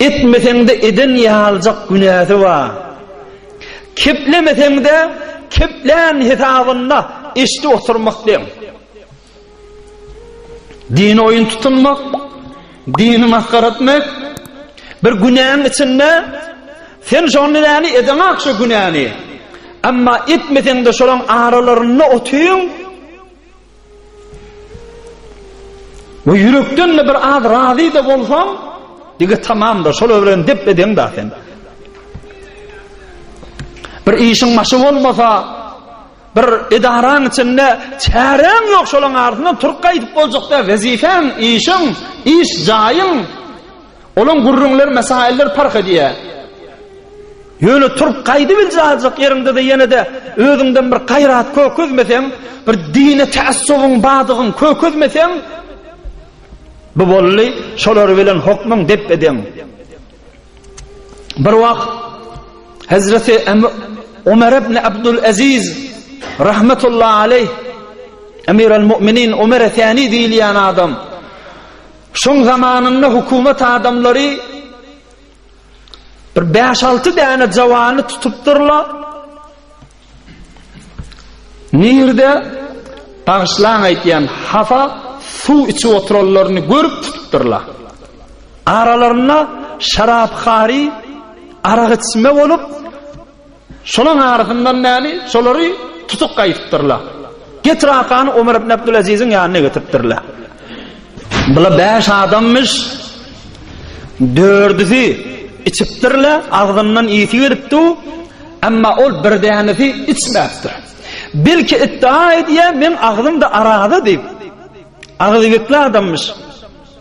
Etmeseň-de eden ýaljak günäsi bar. Keplemeseň-de keplän hesabyna eşidip oturmak deň. Dini oýun tutunmak, dini masgara etmek bir günäň içinde sen şony näni edeňak şu günäni. Emma etmeseň-de şolaň aralarynda otyň. We ýürekden-de bir az razy-da bolsaň, dige tamamdyr, şolar bilen dep edeň-da sen. Bir işiň başy bolmasa, bir edaraň içinde çäräň ýok, şolaň arasyndan turup gaýdyp boljak däl, wezipäň, işiň, iş jaýyň, Olaň gürrüňleri mesailler parh edýär. Ýöne turup gaýdybiljek aljak ýeriňde-de ýene-de özüňden bir gaýrat kökezmeseň, bir dine tässubyň badygyň kökezmeseň, bu boldy, şolar bilen hokmuň depbe-deň. Bir wagt Hezreti Ömer ibn Abdul Aziz rahmetullahi aleyh Emir al-Mu'minin Ömer Efendi diýilýän adam Şoň zamanynda hukumat adamlary bir bäş-alty däne jawany tutupdyrlar. Nirde bagyşlaň aýtýan hapa suw içip oturanlaryny görüp tutupdyrlar. Aralarynda şarap hary, arak içme bolup, Şolaryň arasyndan däli, şolary tutuk gaýypdyrlar. Getir Akany Omar ibn Abdulaziziň ýanyna getiripdirler. Bular bäş adamyş. Dördüsi içipdirler, agzyndan ysy gelipdi, emma ol bir dänesi içmäpdir. Belki iddia edýär, meň agzymda araza diýip. Agzybekli adamyş.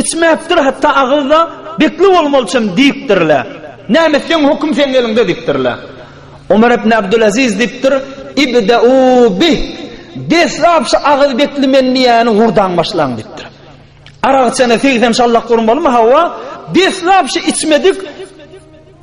Içmäpdir hatda agyzda bekli bolmalyçam diýipdirler. Näme etseň höküm seň eliňde diýipdirler. Omar ibn Abdulaziz diýipdir, Ibde'u bih, deslap şu agyz bekli men diýýäni hurdan başlaň diýipdir. Arak içene segsen şallak urmalymy, hawa, deslap şu içmedik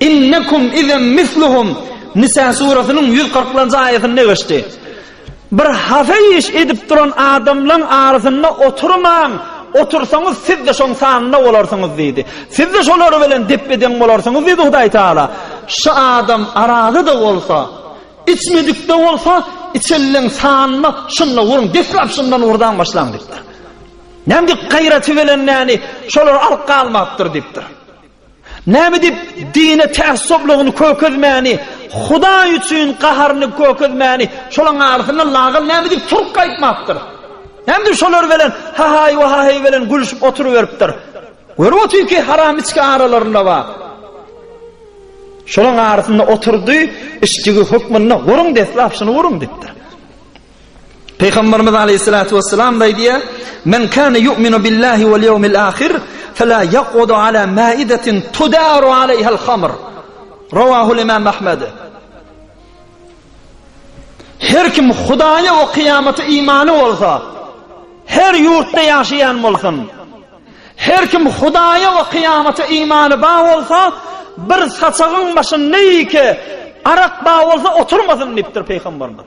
Innekum izem misluhum, Nisa surasynyň ýüz kyrkynjy aýatynda geçdi. Bir hasa iş edip duran adamlaň arasynda oturmaň, otursaňyz siz-de şoň sanynda bolarsyňyz diýdi. Siz-de şolar bilen depbe-deň bolarsyňyz diýdi Hudaý Tagala. Şu adam arazy-da bolsa, içmedik-de bolsa, içenleň sanynda şunda bolyň, deslap şundan urdan başlaň diýipdir. Näme diýip gaýraty bilen näni, şolar alyp galmapdyr diýipdir. Näme diýip dine tässublygyny kökezmäni, Hudaý üçin gaharyny kökezmäni, şolaň arasynda lagal näme diýip turk aýtmapdyr. Näme diýip şolar bilen hahaý we haheý bilen gülüşip oturyberipdir. Görüp otyr ki haram içki aralarynda bar. Şolaň arasynda oturdy, içdigi hökmünde guruň deslap şuny guruň diýipdir. Pygamberimiz Aleyhissalatu vesselam da aýdýar: "Men kana yu'minu billahi wal yawmil ahir, fela yaqudu ala ma'idatin tudaru alayhal khamr." Rawahu Imam Ahmed. Her kim Hudaýa we kyýamata imany bolsa, her ýurtda ýaşaýan bolsun. Her kim Hudaýa we kyýamata imany ba bolsa, bir saçagyň başynda ýeke arak ba bolsa oturmasyn diýipdir Pygamberimiz.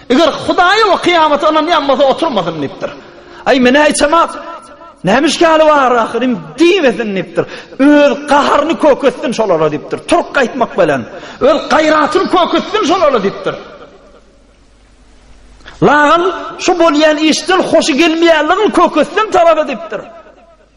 Eger Hudaýa we kyýamata ynanýan bolsa oturmasyn diýipdir. Aý, men-ä içemat. Näme işgäli bar ahyryn diýmesin diýipdir. Öz gaharyny köketsin şolara diýipdir. Turk aýtmak bilen, öz gaýratyny köketsin şolara diýipdir. Lagan şu bolýan işden hoşy gelmeýänligini köketsin tarapa diýipdir.